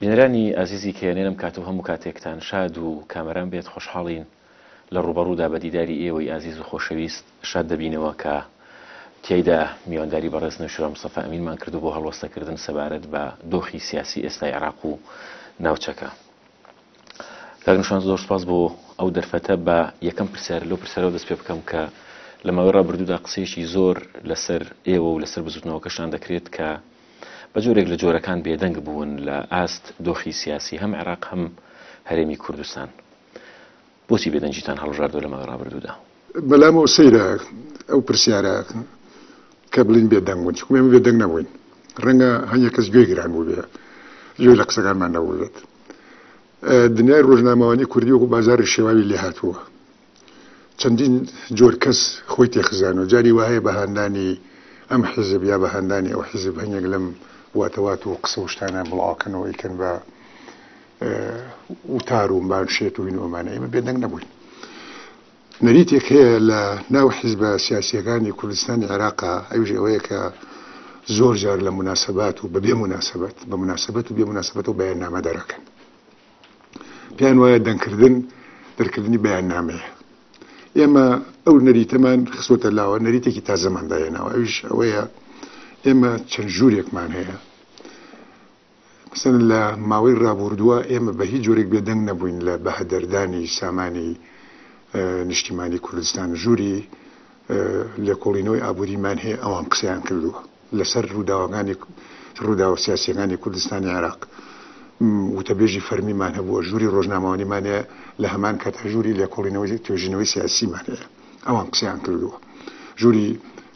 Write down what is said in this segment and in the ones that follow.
بینەرانی ئازیزی کەیانێ لەم کات و هەموو کاتێکتان شاد و کامەران بێت خۆشحاڵین لە ڕووبەڕوودا بە دیداری ئێوەی ئازیز و خۆشەویست شاد دەبینەوە کە تیایدا میوانداری بەڕێز نەوشیروان مستەفا ئەمینمان کردو بۆ هەڵوەستەکردن سەبارەت بە دۆخی سیاسی ئێستای عێراق و ناوچەکە کاک نەوشیروان زۆر سوپاس بۆ ئەو دەرفەتە با یەکەم پرسیار لەو پرسیارەوە دەست پێ بکەم کە لە ماوەی ڕابردوودا قسەیەکی زۆر لەسەر ئێوە و لەسەر بزوتنەوەکەشتان دەکرێت کە بە جۆرێک لە جۆرەکان بێدەنگ بوون لە ئاست دۆخی سیاسی هەم عێراق هەم هەرێمی کوردستان بۆچی بێدەنگیتان هەڵبژاردووە لە ماوەی ڕابردوودا؟ بەلام ئەو سەیرە ئەو پرسیارە کە بڵین بێدەنگ بوون چونکە ئێمە بێدەنگ نەبووین ڕەنگە هەنگێک کەس گوێی گران بووبێ گوێی لە قسەکانمان نەبووبێت دنیای ڕۆژنامەوانی کوردی وەکو بازاری شێواوی لێ هاتووە چەندین جۆر کەس خۆی تێخزانوە جاری واهەیە بە هاندانی ئەم حیزب یا بە هاندانی ئەو حیزب هەنێک لەم واتەوات و قسە وشتانە بڵاوکەنەوە ئیکەن بە وتار و بان شێت و هین ئۆمانە ئێمە بێدەنگ نەبووین نەریتێک هەیە لە ناو حیزبە سیاسیەکانی کوردستانی عێراقا ئەوژ ئەوەیە کە زۆر جار لە مناسبات و بەبێ مناسبەت بە مناسبەت و بێ مناسبەت و بەیان نامە دەرەکەن پێیان وایە دەنگکردن دەرکردنی بەیاننامەیە ئێمە ئەو نەریتەمان خسۆتە لاوە نەریتێکی تازەمانداێناوە ئەوش ئەوەیە ئێمە چەند ژوورێکمان هەیە مثلەن لە ماوەی ڕابوردووە ئێمە بە هیچ جۆرێک بێدەنگ نەبووین لە بەهدەردانی سامانی نیشتیمانی کوردستان ژووری لێکۆڵینەوەی ئابووریمان هەیە ئەوان قسەیان کردووە لەسەر ڕووداوەکانی ڕووداوە سیاسییەکانی کوردستانی عێراق وتەبێژی فەرمیمان هەبووە، ژووری ڕۆژنامەوانیمان هەیە، لە هەمان کاتدا ژووری لێکۆڵینەوەی توێژینەوەی سیاسیمان هەیە، ئەوان قسەیان کردووە، ژووری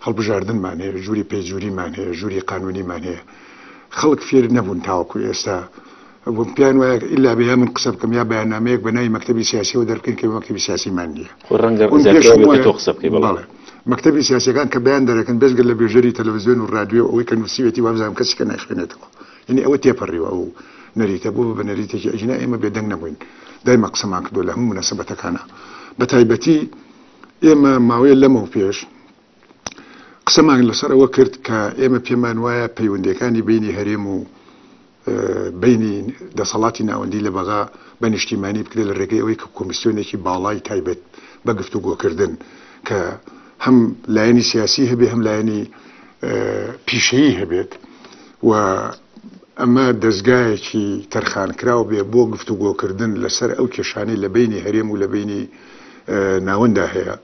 هەڵبژاردنمان هەیە، ژووری پەیجووریمان هەیە، ژووری قانوونیمان هەیە، خەڵک فێر نەبوون تاوەکو ئێستا بوون پێیان وایە ئیلا بە یا من قسە بکەم یا بەیاننامەیەک بە ناوی مەکتەبی سیاسیەوە دەربکەین کە مەکتەبی سیاسیمان نییە خۆ ڕەنگە بوون زیاتر پێشم ئەوێت کە وایە تۆ قسە بکەی بەڵێ بەڵێ مەکتەبی سیاسیەکان کە بەیان دەرەکەن بێجگە لە بێژەری تەلەڤزیۆن و ڕادیۆ و ئەوەی کە نووسیوێتی وابزانم کەسی کە نایخوێنێتەوە یعنی ئەوە تێپەڕیوە ئەو نەریتە بوو بە نەریتێکی ئەژینا ئێمە بێدەنگ نەبووین دایمە قسەمان کردووە لە هەموو موناسبەتەکانا بە تایبەتی ئێمە ماوەیە لەمەو پێش قسەمان لەسەر ئەوە کرد کە ئێمە پێمان وایە پەیوەندیەکانی بینی هەرێم و بینی دەسەڵاتی ناوەندی لە بەغا بە نیشتیمانی بکرێت لە رێگەی ئەوەی کە کۆمیسیۆنێکی باڵای تایبەت بە گفتوگۆکردن کە هەم لایەنی سیاسی هەبێ هەم لایەنی پیشەیی هەبێت و ئەمە دەستگایەکی تەرخانکراو بێ بۆ گفتوگۆکردن لەسەر ئەو کێشانەی لە بینی هەرێم و لە بینی ناوەندا هەیە.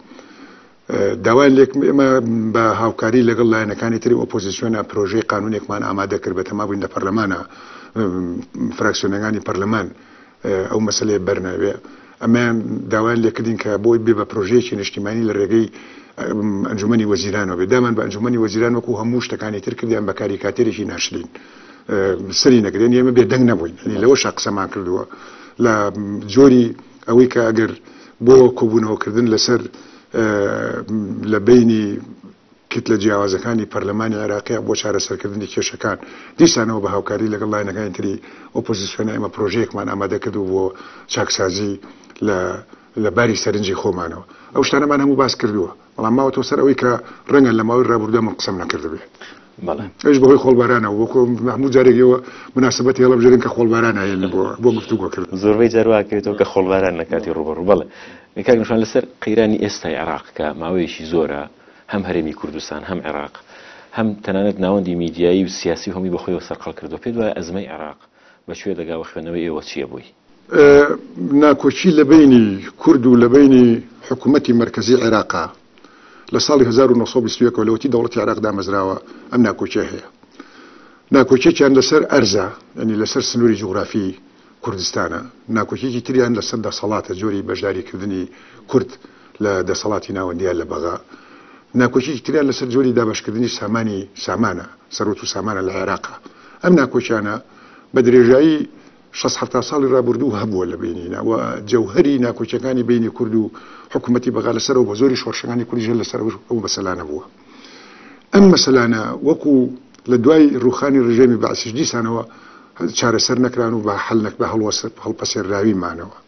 داوایان لێکرد ئێمە بە هاوکاری لەگەڵ لایەنەکانی تری ئۆپۆزیسیۆنە پرۆژەی قانونێکمان ئامادە کرد بە تەما بووین لە پەرلەمانە فراکسیۆنەکانی پەرلەمان ئەو مەسلەیە بەرناوێ ئەمەیان داوایان لێکردین کە بۆی بێ بە پرۆژەیەکی نیشتیمانی لە ڕێگەی ئەنجومی وەزیرانەوە بێ دامان بە ئەنجومی وەزیران وەکو هەموو شتەکانی تر کردیان بە کاری کاتێرێکی ناشرین سری نەگرێن ئێمە بێدەنگ نەبووین لەوە شقسەمان کردووە لە جۆری ئەوەی کە ئەگەر بۆ کۆبوونەوەکردن لەسەر لە بینی کتلە جیاوازەکانی پەرلەمانی عێراقیە بۆ چارەسەرکردنی کێشەکان دیسانەوە بە هاوکاری لەگەڵ لاینەکانی تری ئۆپۆزیسیۆنە ئێمە پرۆژەیەکمان ئامادە کرد و بۆ چاکسازی لە لە باری سەرنجی خۆمانەوە ئەو شتانەمان هەموو باس کردووە بەڵام ماوەتەوە سەر ئەوەی کە ڕەنگە لە ماوەی ڕابوردە من قسەم نەکردبێ ئەش بەهۆی خۆڵبارانەوە بۆ هەموو جارێکەوە مناسبەت هێڵە بژێن کە خۆڵباران هەیەن بۆ بۆ گفتوگۆکرد زۆربەی جارواکرێتەوە کە خۆڵباران لە کاتی ڕوبەڕ بەڵێ کاگەشان لەسەر قەیرانی ئێستای عراق کە ماوەیەکی زۆرە هەم هەرێمی کوردستان هەم عێراق هەم تەنانەت ناوەندی میدیایی و سیاسی هەمی بەخۆیەوە سەرقەڵ کردو پێت وایە ئەزمەی عێراق بە کوێ دەگا و خوێنەوەی ئێوە چییە بۆی؟ ناکۆکی لە بەینی کورد و لە بەینی حکوومەتی مەرکەزی عێراقە. لە ساڵی هەزار و نۆ سەد و بیست و یەک ەوە لەوەتی دەوڵەتی عێراق دامەزراوە ئەم ناکۆکییە هەیە. ناکۆکییەکیان لەسەر ئەرزە، یانی لەسەر سنووری جوغرافیی کوردستانە. ناکۆکییەکی تریان لەسەر دەسەڵاتە، جۆری بەشداریکردنی کورد. لە دەسەڵاتی ناوەندییان لە بەغا. ناکۆکیەکی تریان لەسەر جۆری دابەشکردنی سامانی سامانە، سەروەت و سامانە لە عێراقە. ئەم ناکۆکیانە بە درێژایی شەست حەفتا ساڵی رابوردوو هەبووە لە بەینینا و جەوهەری ناکۆکیەکانی بەینی کورد و حکومەتی بەغا لەسەر ئەو بە زۆری شۆرشەکانی کوردیش هەر لەسەر ئەو مەسەلانە بووە. ئەم مەسەلانە وەکو لە دوای ڕووخانی ڕژێمی بەعسیش دیسانەوە چارەسەر نەکران و بە حەل نەک بە هەڵوەسەر هەڵپەسێرراوی مانەوە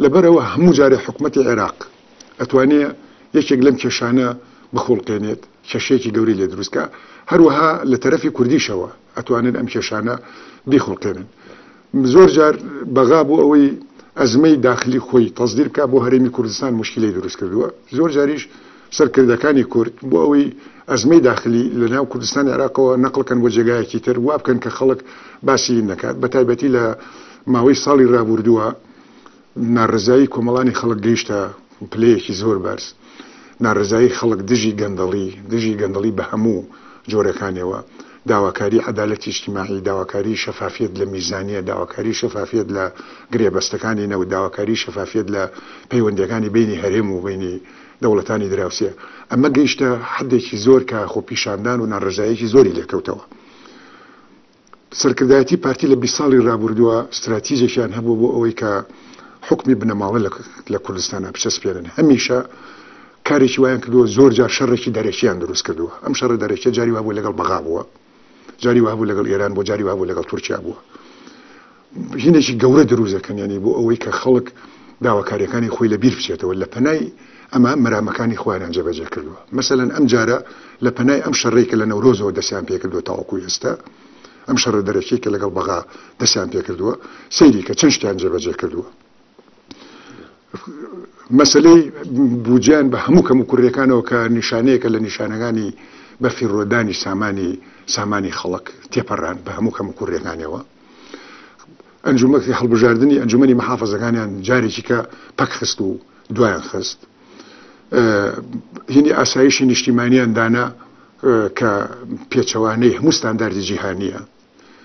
لەبەرەوە هەموو جارێ حکوومەتی عێراق ئەتوانێ یەکێک لەم کێشانە بخوڵقێنێت کێشەیەکی گەوری لێ دروستکە هەروەها لە تەرەفی کوردیشەوە ئەتوانن ئەم کێشانە بیخوڵقێنن زۆر جار بەغا بۆ ئەوەی ئەزمەی داخلی خۆی تەسدیر بکا بۆ هەرێمی کوردستان مشکلی دروست کردووە زۆر جاریش سەرکردەکانی کورد بۆ ئەوەی ئەزمەی داخلی لە ناو کوردستان عێراقەوە نەقلکەن بۆ جێگایەکی تر وابکەن کە خەڵک باسی نەکات بە تایبەتی لە ماوەی ساڵی رابوردووە ناڕەزایی کۆمەڵانی خەڵک گەیشتە پلەیەکی زۆر بەرز، ناڕەزایی خەڵک دژی گەندەڵی، دژی گەندەڵی بە هەموو جۆرەکانیەوە، داواکاری عەدالەتی ئیجتیماعی، داواکاری شەفافیەت لە میزانیە، داواکاری شەفافیەت لە گرێبەستەکانی نەوت، داواکاری شەفافیەت لە پەیوەندیەکانی بەینی هەرێم و بەینی دەوڵەتانی دراوسێ، ئەمە گەیشتە حەدێکی زۆر کە خۆپیشاندان و ناڕەزاییەکی زۆری لێکەوتەوە. سەرکردایەتی پارتی لە بیست ساڵی رابوردووە ستراتیجێکیان هەبووە بۆ ئەوەی کە حوکمی بنەماڵە لە کوردستانا بچەسپێنن هەمیشە کارێکی وایان کردووە زۆر جار شەڕێکی دەرەکیان دروست کردووە ئەم شەڕە دەرەکیە جاری وابوو لەگەڵ بەغا بووە جاری وابوو لەگەڵ ئێران بۆ جاری وابوو لەگەڵ تورکیا بووە ژنێکی گەورە دروست دەکەن یانی بۆ ئەوەی کە خەڵک داواکاریەکانی خۆی لە بیر بچێتەوە لە پەنای ئەمە مەرامەکانی خۆیان جێبەجێ کردووە مەسەەن ئەم جارە لە پەنای ئەم شەڕێک کە لە نەورۆزەوە دەستیان پێکردووە تاوەکو ئێستا ئەم شەڕە دەرەکی کە لەگەڵ بەغا دەستیان پێکردووە سەیری کە چەند شتیان جێبەجێ کردووە مەسلەی بوجیان بە هەموو کەم و کوڕیەکانەوە کە نیشانەیەکە لە نیشانەکانی بە فیڕۆدانی سامانی سامانی خەڵک تێپەڕان بە هەموو کەم و کوڕیەکانەوە ئەنجومەکتی هەڵبژاردنی ئەنجومەنی محافزەکانیان جارێکیکە پەکخست و دوایان خست هینی ئاسایشی نیشتیمانیان دانا کە پێچەوانەی هەموو ستانداردی جیهانیە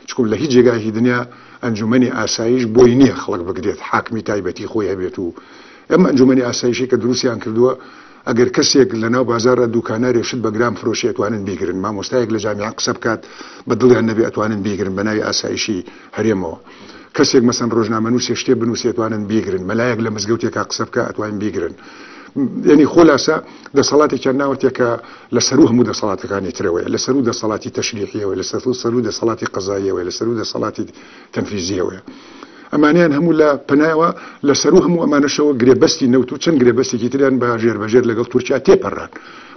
چکم لە هیچ جێگاهی دنیا ئەنجومەنی ئاسایش بۆی نییە خەڵک بگرێت حاکمی تایبەتی خۆی هەبێت و ئەم ئەنجومەنی ئاسایشەی کە دروستیان کردووە ئەگەر کەسێک لە ناو بازارە دوکانارێ شت بە گران فرۆشی ئەتوانن بیگرن مامۆستایەک لە جامیان قسە بکات بە دڵیان نەبێ ئەتوانن بیگرن بە ناوی ئاسایشی هەرێمەوە کەسێک مەسەن ڕۆژنامەنووسێ شتێ بنووسێ توانن بیگرن مەلایەک لە مزگەوتێکا قسە بکە ئەتوانین بیگرن یعنی خۆلاسە دەسەڵاتێکیان ناوەتێکە لە سەرو هەموو دەسەڵاتەکانی ترەوەی لە سەرو دەسەڵاتی تەشریحیەوەی لە سەر سەرو دەسەڵاتی قەزاییەوەی لە سەرو دەسەڵاتی تەنفیزییەوەیە. ئەمانەیان هەموو لە پەنایەوە لە سەروو هەموو ئەمانەشەوە گرێبەستی نەوت و چەند گرێبەستێکی تریان بە ژێربەژێر لەگەڵ تورکیا تێپەڕان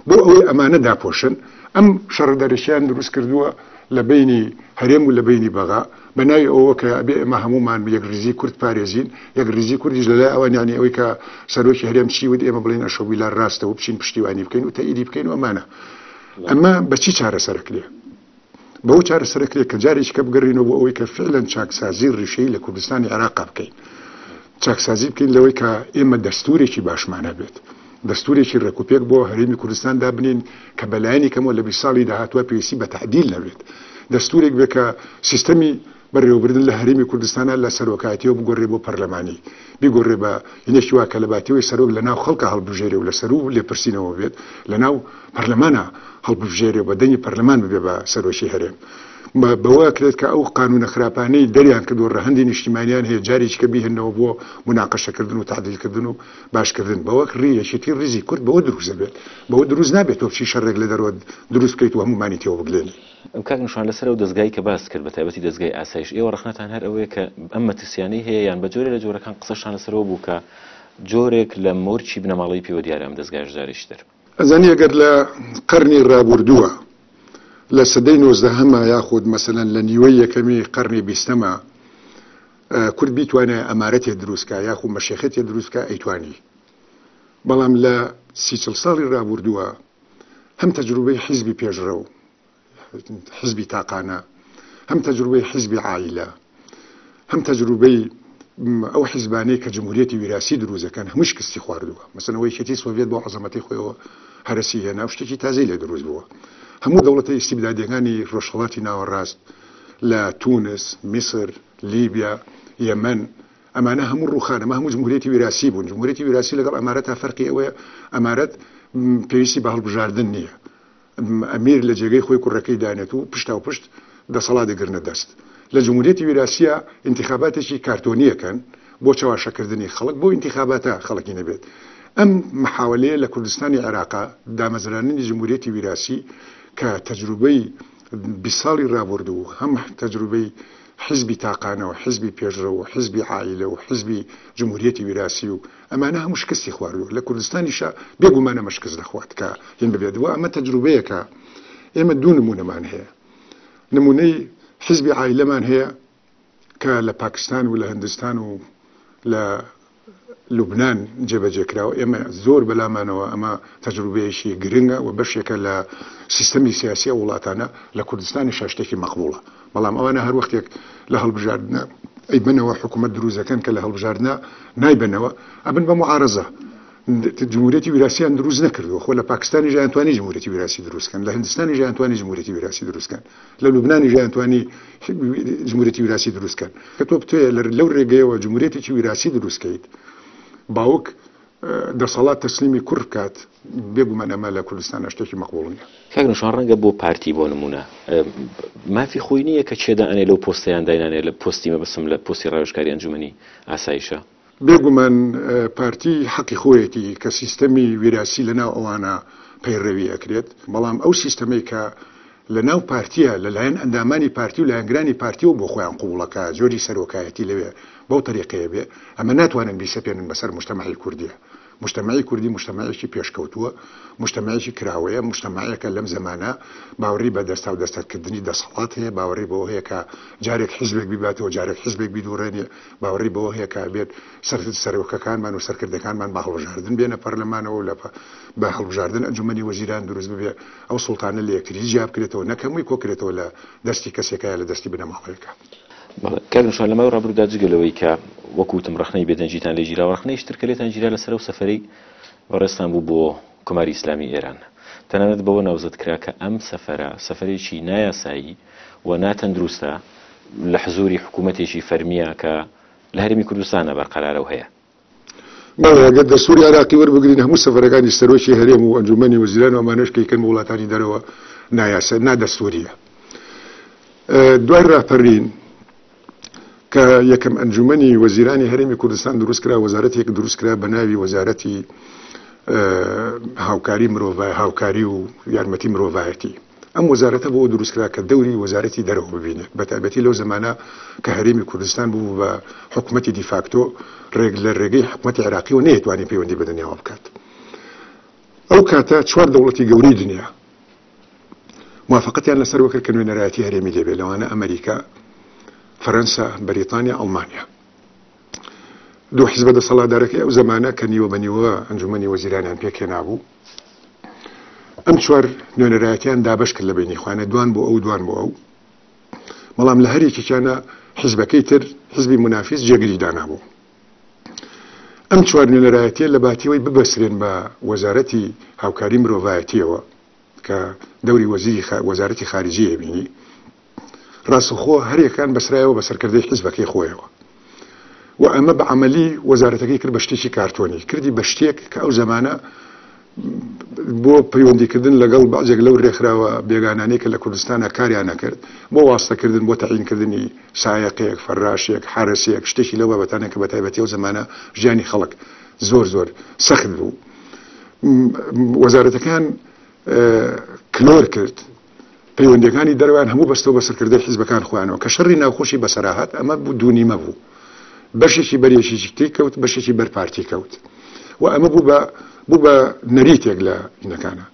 بۆ ئەوەی ئەمانە داپۆشن ئەم شەڕە دەرەکیان دروست کردووە لە بینی هەرێم و لە بینی بەغا بە ناوی ئەوە کە ئەبێ ئێمە هەمومان یەک ریزی کورد پارێزین یەک ریزی کوردیش لەلای ئەوان یانی ئەوەی کە سەرۆکی هەرێم چی ود ئێمە بڵین ئەشۆ بیلار راستەوە بچین پشتیوانی بکەین و تەئیدی بکەین و ئەمانە ئەمە بەچی چارەسەرەکرێ بەو چارەسەرە کرێت کە جارێکیکە بگەڕینەوە بۆ ئەوەی کە فعلەن چاکسازی ڕیشەی لە کوردستانی عێراقا بکەین چاکسازی بکەین لەوەی کە ئێمە دەستورێکی باشمان هەبێت دەستورێکی ڕێکوپێک بۆ هەرێمی کوردستان دابنین کە بەلایەنی کەمەوە لە بی ساڵی داهاتوە پێویستی بە تعدیل نەبێت دەستورێک بێکە سیستەمی بەڕێوەبردن لە هەرێمی کوردستانا لە سەرۆکایەتیەوە بگۆرێ بۆ پەرلەمانی بیگۆرێ بە یەکی وا کە لە باتیەوەی سەرۆک لە ناو خەڵکا هەڵبژێرێ و لە سەروو لێپرسینەوە بێت لە ناو پەرلەمانا هەڵببژێرێ و بە دەنگی پەرلەمان ببێ بە سەرۆکی هەرێم بەوە کرێت کە ئەو قانونە خراپانەی دەریان کردو ڕەهەندی نیشتیمانیان هەیە جاریش کە بیهێنەوە بۆ مناقەشەکردن و تعدیلکردن و باشکردن بەوەک ڕی یەکێتی ڕیزی کورد بەوە دروست دەبێت بەوە دروست نابێت تۆ چی شەڕێک لە دەرەوە دروست بکەیت و هەمومانی تێوە بگلێنی کاک نشان لەسەر ئەو دەزگای کە باست کرد بەتایبەتی دەزگای ئاسایش ئێوە ڕەخنەتان هەر ئەوەیە کە ئەم مەترسیانەی هەیە یان بە جۆرە لە جۆرەکان قسەشتان لەسەرەوە بوو کە جۆرێک لە مۆرکی بنەماڵەی پێوە دیارە ئەم دەزگایەش جارێکی تر. ئەزانی ئەگەر لە قەرنی ڕابوردووە لە سەدەی نۆزدەهەما یاخود مەسەلەن لە نیوەی یەکەمی قەرنی بیستەما کورد بیتوانای ئەمارەتێ دروست کا یاخو مەشێخەتێ دروست کا ئەیتوانی بەڵام لە سی چڵ ساڵی ڕابوردووە هەم تەجروبەی حیزبی پێشڕەو، حیزبی تاقانە، هەم تەجروبەی حیزبی عائیلە، هەم تەجروبەی ئەو حیزبانەی کە جمهوریەتی ویراسی دروزەکەن هەموو شکستی خواردووە مەسنەوەی شێتی سۆڤێت بۆ عزەمەتی خۆیەوە هەرسی هێنا و شتێکی تازەی لێ دروست بووە هەموو دەوڵەتە ئیسیبدادەکانی ڕۆژهڵاتی ناوەڕاست لە تونس میسر لیبیا یەمەن ئەمانە هەموو ڕووخان، ئەمە هەموو جمهوریەتی ویراسی بوون، جمهوریەتی ویراسی لەگەڵ ئەمارەتا فەرقی ئەوەیە ئەمارەت پێویستی بە هەڵبژاردن نییە، ئەمیر لە جێگەی خۆی کوڕەکەی دانێت و پشتاوپشت دەسەڵات دەگرنە دەست. لە جمهوریەتی ویراسییا ئینتیخاباتێکی کارتۆنی ئەکەن بۆ چەواشەکردنی خەڵک، بۆ ئینتیخاباتا خەڵکی نەبێت. ئەم محاولەیە لە کوردستانی عێراقا دامەزراننی جمهوریەتی ویراسی کە تەجروبەی بیست ساڵی ڕابوردوو هەم تەجروبەی حیزبی تاقانە و حیزبی پێشڕەو و حیزبی عائیلە و حیزبی جمهوریەتی ویراسی و ئەمانە هەموو شکستی خواردووە لە کوردستانیشا بێ گومان ئەمە شکست دەخوات کە هین ببێت و ئەمە تەجروبەیەکە ئێمە دوو نموونەمان هەیە نموونەی حیزبی عائیلەمان هەیە کە لە پاکستان و لە هندستان و لە لوبنان جێبەجێکراوە، ئێمە زۆر بەلامانەوە ئەمە تەجروبەیەکی گرنگە و بەشێکە لە سیستەمی سیاسی ئەو وڵاتانە، لە کوردستانیشا شتێکی مەقبوڵە، بەڵام ئەوانە هەر وەختێک لە هەڵبژاردنە ئەیبەنەوە حکومەت دروست دەکەن کە لە هەڵبژاردنە نایبەنەوە ئەبن بە موعارەزە، جمهوریەتی ویراسیان دروست نەکردووە، خۆ لە پاکستانیشا ئەیانتوانی جمهوریەتی ویراسی دروست کەن، لە هندستانیشا ئەیانتوانی جمهوریەتی ویراسی دروست کەن، لە لوبنانیش یان توانی جموریەتی ویراسی دروست کەن کە تۆ بتەیە لە لەو رێگەیەوە جموریەتێکی ویراسی دروست کەیت باوک دەسەڵات تەسلیمی کوڕ بکات بێگومان ئەمە لە کوردستان نەشتێکی مەقبوڵ نیە کاگنشان ڕەنگە بۆ پارتی بۆ نمونە مافی خۆی نییە کە چێدا ئەنێ لەو پۆستیان داینانێ لە پۆستی مەبسم لە پۆستی ڕاوشکاری ئەنجومی ئاسایشە بێگومان پارتی حەقی خۆیەتی کە سیستەمی ویراسی لە ناو ئەوانە پەیڕەوی ئەکرێت بەڵام ئەو سیستەمەی کە لە ناو پارتیە لەلایەن ئەندامانی پارتی و لایەنگرانی پارتیەوە بۆ خۆیان قوڵەکە جۆری سەرۆکایەتی لەوێ بەو تەریقەیە بێ ئەمە ناتوانن بیسەپێنن بەسەر مشتەمەعی کوردیە موجتەمەعی کوردی موجتەمەعێکی پێشکەوتووە، موجتەمەعێکی کراوەیە، موجتەمەعێکە لەم زەمانە باوەڕی بە دەستاو دەستەتکردنی دەسەڵات هەیە، باوەڕی بەوە هەیە کە جارێک حیزبێک بیباتەوە جارێک حیزبێک بیدوڕێنێ، باوەڕی بەوە هەیە کە ئەبێت سەرۆکەکانمان و سەرکردەکانمان بە هەڵبژاردن بێنە پەرلەمانەوە و بە هەڵبژاردن ئەنجومەنی وەزیران دروست ببێ، ئەو سوڵتانە لە یەکتری جیابکرێتەوە نەک هەمووی کۆکرێتەوە لە دەستی کەسێکا یا لە دەستی بنەماڵەیەکا. کاک نوشان لەماوەی ڕابرودا جگە لەوەی کە وەکوتم ڕخنەی بێدەنگیتان لێ گیراوە ڕخنەی شتر کە لێتان گیرا لەسەر و سەفەرەی بەڕێزتان بوو بۆ کۆماری ئیسلامی ئێران تەنانەت بەوە ناوزەد کرا کە ئەم سەفەرە سەفەرێکی نایاسایی و ناتەندروستە لە حزوری حکوومەتێکی فەرمییە کە لە هەرێمی کوردستانە بەرقەرارە و هەیە. بەڵێ گەر دەستوری عێراقی وەربگرین هەموو سەفەرەکانی سەرۆکی هەرێم و ئەنجومەنی وەزیران و ئەمانەش کەیکەن بۆ وڵاتانی دەرەوە نایاسە نادەستوریە دوای ڕاپەرین کە یەکەم ئەنجومەنی وەزیرانی هەرێمی کوردستان دروست کرا وەزارەتێک دروست کرا بە ناوی وەزارەتی هاوکاری مرۆڤ هاوکاری و یارمەتی مرۆڤایەتی ئەم وەزارەتە بۆ دروستکرا کە دەوری وەزارەتی دەرەوە ببینێت بە تایبەتی لەو زەمانە کە هەرێمی کوردستان بوو بە حکومەتی دیفاکتۆ ڕێک لە ڕێگەی حکومەتی عراقی و نەیەتوانی پەیوەندی بە دنیاوە بکات ئەو کاتە چوار دەوڵەتی گەورەی دنیا موافقەتیان لەسەر وەکرد کە نوێنەرایەتی هەرێمی لێبێ لەوانە ئەمریکا فەرەنسا بەریتانیا ئەڵمانیا دوو حزبە دەسەڵاتدارەکەی ئەو زمانە کە نیوە بە نیوە ئەنجومی وەزیرانیان پێکێنابوو ئەم چوار نوێنەرایەتیان دابش کرد لە بینی خوانە دوان بۆ ئەو دوان بۆ ئەو بەڵام لە هەرێکیانە حزبەکەی تر حزبی منافیس جێگری دانابوو ئەم چوار نوێنەرایەتە لە باتیەوەی ببەسرێن بە وەزارەتی هاوکاری مرۆڤایەتیەوە کە دەوری وەزیری وەزارەتی خارجیە بینی ڕاستەوخۆ هەریەکان بەسرایەوە بە سەرکردەی حیزبەکەی خۆیەوە و ئەمە بە عەمەلی وەزارەتەکەی کرد بە شتێکی کارتۆنی کردی بە شتێک کە ئەو زەمانە بۆ پەیوەندیکردن لەگەڵ بەعجێک لەو رێکخراوە بێگانانی کە لە کوردستانە کاریان نەکرد بۆ واستەکردن بۆ تەعینکردنی سایەقێک فەراشێک حارسێک شتێکی لەو بابەتانە کە بە تایبەتی و زمانە ژیانی خەڵک زۆر زۆر سەخت بوو وەزارەتەکان کلۆر کرد پەیوەندیەکانی دەرەوەیان هەموو بەستەو بە سەرکردەی حیزبەکان خۆیانەوە کە شەڕی ناوخۆشی بەسەرا هات ئەمە بوو دوو نیمە بوو بەشێکی بەر یەکێکی تری کەوت بەشێکی بەر پارتی کەوت و ئەمە بوو بە بوو بە نەریتێک لە ئینەکانە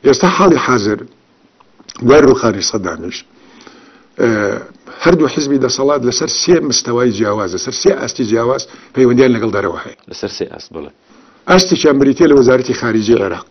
ئێستا حاڵی حاضر دوای ڕوخانی سەدامیش هەردوو حزبی دەسەڵات لەسەر سێ مستەوای جیاواز لەسەر سێ ئاستی جیاواز پەیوەندیان لەگەڵ دەرەوە هەیە لەسەر سێ ئاست بڵێ ئاستێکیان بریتە لە وەزارەتی خارجی عێراق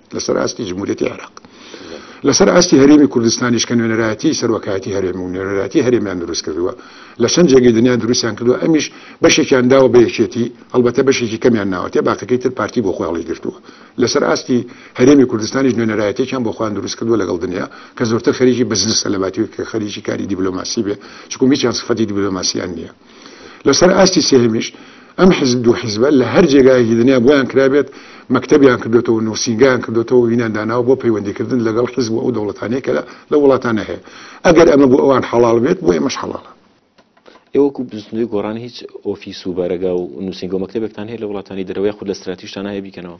لەسەر ئاستی جمهوریەتی عێراق لەسەر ئاستی هەرێمی کوردستانیش کە نوێنەرایەتی سەرۆکایەتی هەرێم و نوێنەرایەتی هەرێمیان دروست کردووە لە چەند جێگەی دنیا دروستیان کردووە ئەمیش بەشێکیان داوە بە یەکێتی هەڵبەتە بەشێکی کەمیان ناوەتێ باقەکەی تر پارتی بۆ خۆیاڵی گرتووە لەسەر ئاستی هەرێمی کوردستانیش نوێنەرایەتێکیان بۆ خوان دروست کردووە لەگەڵ دنیا کە زۆرتر خەریکی بزنسە لە باتی کە خەریکی کاری دیبلۆماسی بێ چکو میچیان سفەتی دیبلۆماسیان نییە لەسەر ئاستی سێهەمیش ئەم حیزب دوو حیزبە لە هەر جێگایەکی دنیا بۆیان کرابێت مەکتەبیان کردوێتەوە نووسینگیان کردوێتەوە وینان داناوە بۆ پەیوەندیکردن لەگەڵ حیزب و ئەو دەوڵەتانەیە کە لە وڵاتانە هەیە ئەگەر ئەمە بۆ ئەوان حەڵال بێت بۆ ئێمەش حەڵالە ئێوەکو بزنەوەی گۆڕان هیچ ئۆفیس و بارەگا و نووسنگۆ مەکتتەبێکتان هەیە لە وڵاتانی دەرەوەی خود لە ستراتیشتان هەیە بیکەنەوە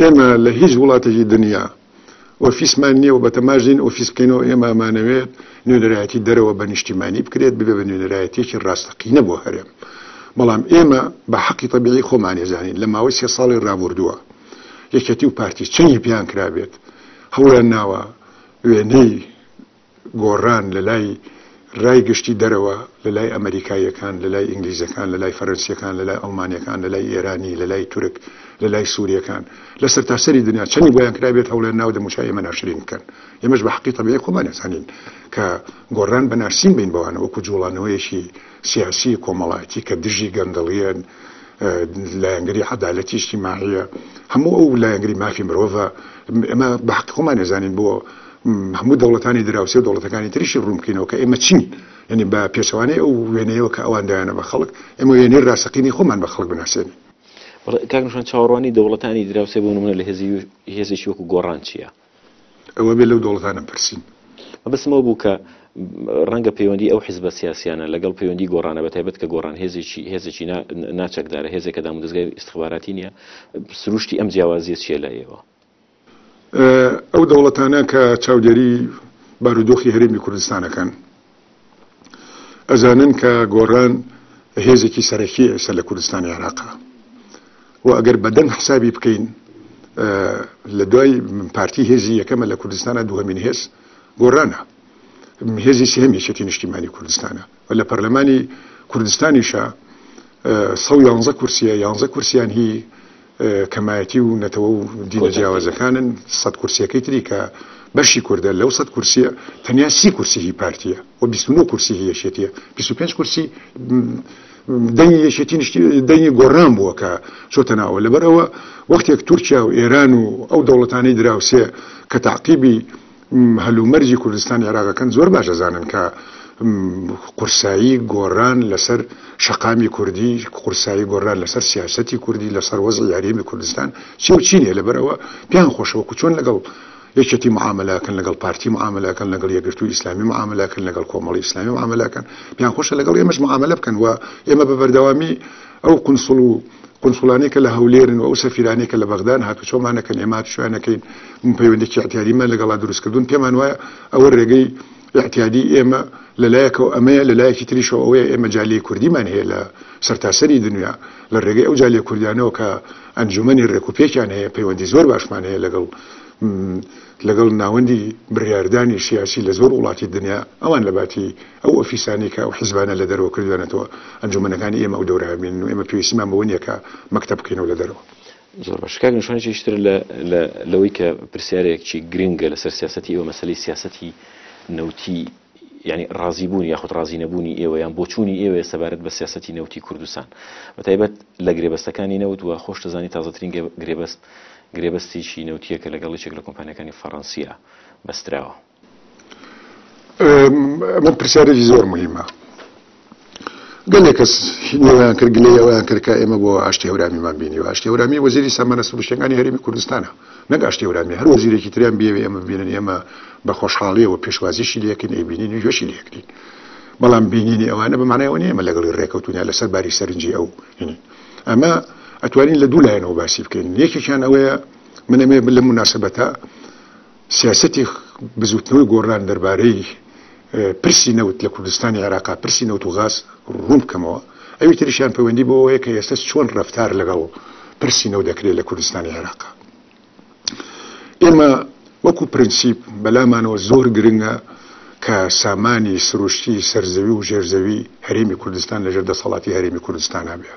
ئێمە لە هیچ وڵاتێکی دنیا ئۆفیسمان نییە و بەتەماش نین ئۆفیس بکەینەوە، ئێمە ئەمانەوێت نوێنەرایەتی دەرەوە بە نیشتیمانی بکرێت ببێت بە نوێنەرایەتیەکی ڕاستەقینە بۆ هەرێم، بەڵام ئێمە بە حەقی تەبیعی خۆمانی زانین لە ماوەی سێ ساڵی ڕابوردووە یەکێتی و پارتی چەنی پێیان کرابێت هەوڵیان ناوە وێنەی گۆڕان لە لای رای گشتی دەرەوە، لە لای ئەمەریکاییەکان، لە لای ئینگلیزەکان، لە لای فەرەنسییەکان، لە لای ئەڵمانییەکان، لە لای ئێرانی، لە لای تورک، لە لای سورییەکان، لە سەرتاسەری دنیا، چەندی بۆیان کرابێت هەوڵیان ناوە دەموچاوی ئێمە ناشرین بکەن. ئێمەش بە حەقی تەبیعی خۆمان ئەزانین کە گۆڕان بە ناشرین بین بەوانە، وەکو جووڵانەوەیەکی سیاسی کۆمەڵایەتی کە دژی گەندەڵیە، لایەنگری عەدالەتی ئیجتیماعیە، هەموو ئەو لایەنگری مافی مرۆڤە، ئێمە بە حەقی خۆمان ئەزانین بۆ هەموو دەوڵەتانی دراوسێ و دەوڵەتەکانی تریشی ڕوون بکەینەوە کە ئێمە چین، یەنی بە پێچەوانەی ئەو وێنەیەوە کە ئەوان دایانە بە خەڵک، ئێمە وێنەی ڕاستەقینەی خۆمان بە خەڵک بناسێنین. کاک نیشان چاوەڕوانی دەوڵەتانی دراوسێ بۆ نموونە لە هێزی هێزێکی وەکو گۆڕان چیە؟ ئەوە بێ لەو دۆڵەتانە پرسین. مەبەستم ئەوە بوو کە ڕەنگە پەیوەندی ئەو حزبە سیاسیانە لەگەڵ پەیوەندی گۆڕانە بە تایبەت کە گۆڕان هێزێکی هێزێکی ناچەکدارە هێزێکە دام و دەستگای ئیسخباراتی نییە سروشتی ئەم جیاوازیە چیە لە ئێوە ئەو دەوڵەتانە کە چاودێری بارودۆخی هەرێمی کوردستانەکەن ئەزانن کە گۆڕان هێزێکی سەرەکیە ئێستا لە کوردستانی عێراقا و ئەگەر بەدەنگ حسابی بکەین لە دوای پارتی هێزی یەکەمە لە کوردستانە دوهمین هێز گۆڕانە هێزی سێم یەکێتی نیشتیمانی کوردستانە و لە پەرلەمانی کوردستانیشە سە یانزە کورسیە یانزە کورسیان هی کەمایەتی و نەتەوە و دینە جیاوازەکانن، سەد کورسیەکەی تری کە بەشی کوردە، لەو سەد کورسیە تەنیا سی کورسی هی پارتیە و بیست و نۆ کورسی هی یەکێتیە، بیست و پێنج کورسی دەنگی یەکێتی نیشتی دەنگی گۆڕان بووە کە چۆتە ناوە، لەبەر ئەوە وەختێک تورکیا و ئێران و ئەو دەوڵەتانەی دراوسێ کە تەعقیبی. هەل و مەرجی کوردستانی عێراقەکەن زۆر باش ئەزانن کە قورسایی گۆڕان لەسەر شەقامی کوردی قورسایی گۆڕان لەسەر سیاستی کوردی لەسەر وەزی یاریمی کوردستان چی و چینێ لەبەرەوە پیان خۆشەوە کو چۆن لەگەڵ یەکێتی معاملاکەن لەگەڵ پارتی معاملاکەن لەگەڵ یەگرتو ئیسلامی معاملاکەن لەگەڵ کۆمەڵی ئیسلامی معاملاکەن پیان خۆشە لەگەڵ ئێمەش معاملە بکەن و ئێمە بە بەردەوامی ئەو قونسڵ و قونسڵانەی کە لە هەولێرن و ئەو سەفیرانەی کە لە بەغدان هاتوچۆمان نەکەن ئێمە هاتوچۆیان نەکەین من پەیوەندێکی ئیعتیادیمان لەگەڵا دروستکردوون پێمان وایە ئەوە رێگەی ئیعتیادی ئێمە لە لایەکەوە ئەمەیە لە لایەکی تریشەوە ئەوەیە ئێمە جالیی کوردیمان هەیە لە سەرتاسەری دنیا لە رێگەی ئەو جالییە کوردیانەوە کە ئەنجوومەنی رێکوپێکیان هەیە پەیوەندی زۆر باشمان هەیە لەگەڵ لەگەڵ ناوەندی بڕیاردانی سیاسی لە زۆر وڵاتی دنیا ئەوان لە باتی ئەو ئۆفیسانەی کە ئەو حیزبانە لە دەرەوە کردویانەتەوە، ئەنجومەنەکانی ئێمە ئەو دەورە ئەبینن و ئێمە پێویستیمان بەوە نییە کە مەکتەب بکەینەوە لە دەرەوە. زۆر باشە کاک نەشوان چیش تر لە لە لەوەی کە پرسیارێکچی گرنگە لەسەر سیاسەتی ئێوە مەسەلەی سیاسەتی نەوتی یانی ڕازی بوونی یاخود ڕازی نەبوونی ئێوە یان بۆچوونی ئێوەیە سەبارەت بە سیاسەتی نەوتی کوردستان بەتایبەت لە گرێبەستەکانی نەوت و خۆشتە زانی تازەترین گرێبەست گرێبەستێکی نەوتیە کە لەگەڵ یەکێک لە کۆمپانیەکانی فەڕەنسیە بەستراوە. من پرسیارێکی زۆر مهمە گەلێک کەس نێویان کرد گلەی ئەویان کرد کە ئێمە بۆ ئاشتی هەورامیمان بینی و ئاشتی هەورامی وەزیری سامانە سروشتەکانی هەرمی کوردستانە نەک ئاشتی هەورامی هەر وەزیرێکی تریان بێوێ ئێمە بینن ئێمە بە خۆشحاڵیەوە پێشوازیشی لەکەین ئەی بینین وێشی لەکرین بەڵام بینینی ئەوانە بەمانایەوە نیە ئمە لەگەڵی ڕێکەوتونە لەسەر باری سەرنجی ئەو هینی ئەمە ئەتوانین لە دوو لایەنەوە باسی بکەین یەکێکیان ئەوەیە منەمێ لە مناسبەتە سیاسەتی بزووتنەوەی گۆڕان دەربارەی پرسی نەوت لە کوردستانی عێراقا پرسی نەوت و غاز ڕوون بکەمەوە ئەوی تریشیان پەیوەندی بۆەوەیە کە ئێستا چۆن ڕفتار لەگەڵ پرسی نەو دەکرێت لە کوردستانی عێراقا ئێمە وەکو پرەنسیپ بەلامانەوە زۆر گرنگە کە سامانی سروشتی سەرزەوی و ژێرزەوی هەرێمی کوردستان لەژێر دەسەڵاتی هەرێمی کوردستانە بێ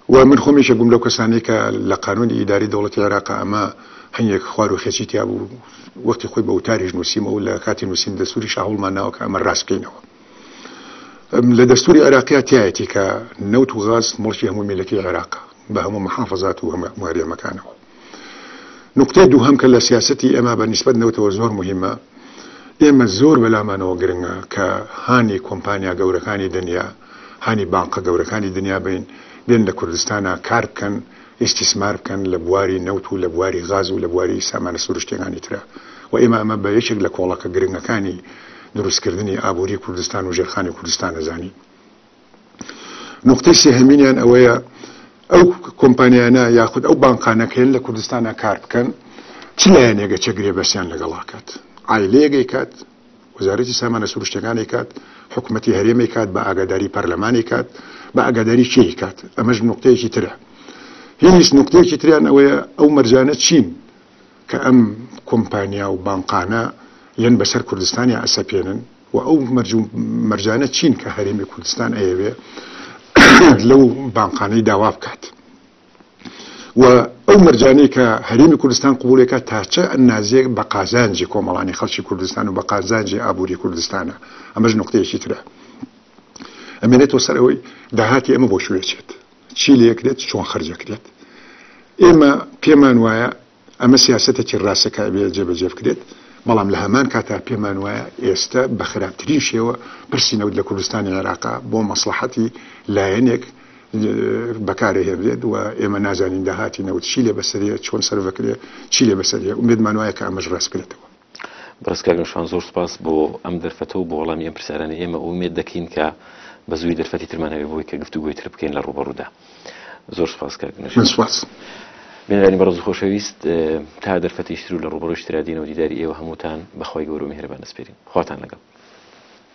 و من خۆم یەکێک بووم لەو کەسانەی کە لە قانونی ئیداری دەوڵەتی عێراقا ئەمە هەنگێک خوار و خێچی تیا بوو وەختی خۆی بە وتاریش نووسیمە و لە کاتی نووسین دەستوری شاهڵمان ناوە کە ئەمە ڕاستکەینەوە لە دەستوری عێراقیا تایەتی کە نەوت و غاز مڵکی هەموو میلەتی عێراق بە هەموو محافظات و هەموو ماریەمەکانەوە نوکتەی دووهەم کە لە سیاسەتی ئێمە بە نیسبەت نەوتەوە زۆر موهیمە، ئێمە زۆر بە لامانەوە گرنگە کە هانی کۆمپانیا گەورەکانی دنیا، هانی بانقە گەورەکانی دنیا بەین بێن لە کوردستانا کار بکەن، ئیستیسمار بکەن لە بواری نەوت و لە بواری غاز و لە بواری سامانە سروشتیەکانی ترا و ئێمە ئەمە بە یەکێک لە کۆڵەکە گرنگەکانی دروستکردنی ئابووری کوردستان و ژێرخانی کوردستان ئەزانین. نوقتەی سێهەمینیان ئەوەیە ئەو کۆمپانیانە یاخود ئەو بانقانەکەن لە کوردستانە کار بکەن چ لایەنێگە چە گرێ بەسیان لەگەڵاکات ئایلەیەگەی کات وەزارەتی سامانە سروشتەکانی کات حکوومەتتی هەرێمی کات بە ئاگاداری پەرلەمانی کات بە ئاگاداری چی کات ئەمەش نوقتەیەکی ترە هیچ نوقتەیەکی تریان ئەوەیە ئەو مەرجانە چین کە ئەم کۆمپانیا و بانقانە یەن بەسەر کوردستانیا ئەسەپێنن وە ئەو مەرج و مەرجانە چین کە هەرێمی کوردستان ئەیەوێ لەو بانقانەی داوا بکات و ئەو مەرجانەی کە هەرێمی کوردستان قوبولێکە تاچە ئەنازێک بە قازانجی کۆمەڵانی خەڵکی کوردستان و بە قازانجی ئابووری کوردستانە ئەمەش نقطەیەکی ترە ئەمێنێتەوە سەر ئەوەی داهاتی ئەمە بۆ شوێچێت چی لەکرێت چۆن خرجەکرێت ئێمە پێمان وایە ئەمە سیاسەتێکی ڕاستە کە ئەبێت جێبەجێ بکرێت، بەڵام لە هەمان کاتدا پێمان وایە ئێستە بە خراپترین شێوە پرسی نەوت لە کوردستانی عێراق بۆ مەسڵەحەتی لایەنێک بەکارەهێنرێت و ئێمە نازانین داهاتی نەوت چی لێ بەسەریە، چۆن سەرفدەکرێت، چی لێ بەسەریە، ئومێدمان وایە کە ئەمەش ڕاست بکرێتەوە. بەڕێز کاک نەوشیروان زۆر سوپاس بۆ ئەم دەرفەتە و بۆ وەڵامی ئەم پرسیارانەی ئێمە و ئومێد دەکەین کە بە زووی دەرفەتی ترمان هەبێ بۆی کە گفتوگۆی تر بکەین لە ڕووبەڕوودا زۆر سوپاس کاک نەوشیروان. من سوپاس. بینەرانی بەڕێز و خۆشەویست تا دەرفەتیش تر و لە ڕووبەڕوویش ترا دێین و دیداری ئێوە هەمووتان بە خوای گەورە و میهرەبان دەسپێرین. خواتان لەگەڵ.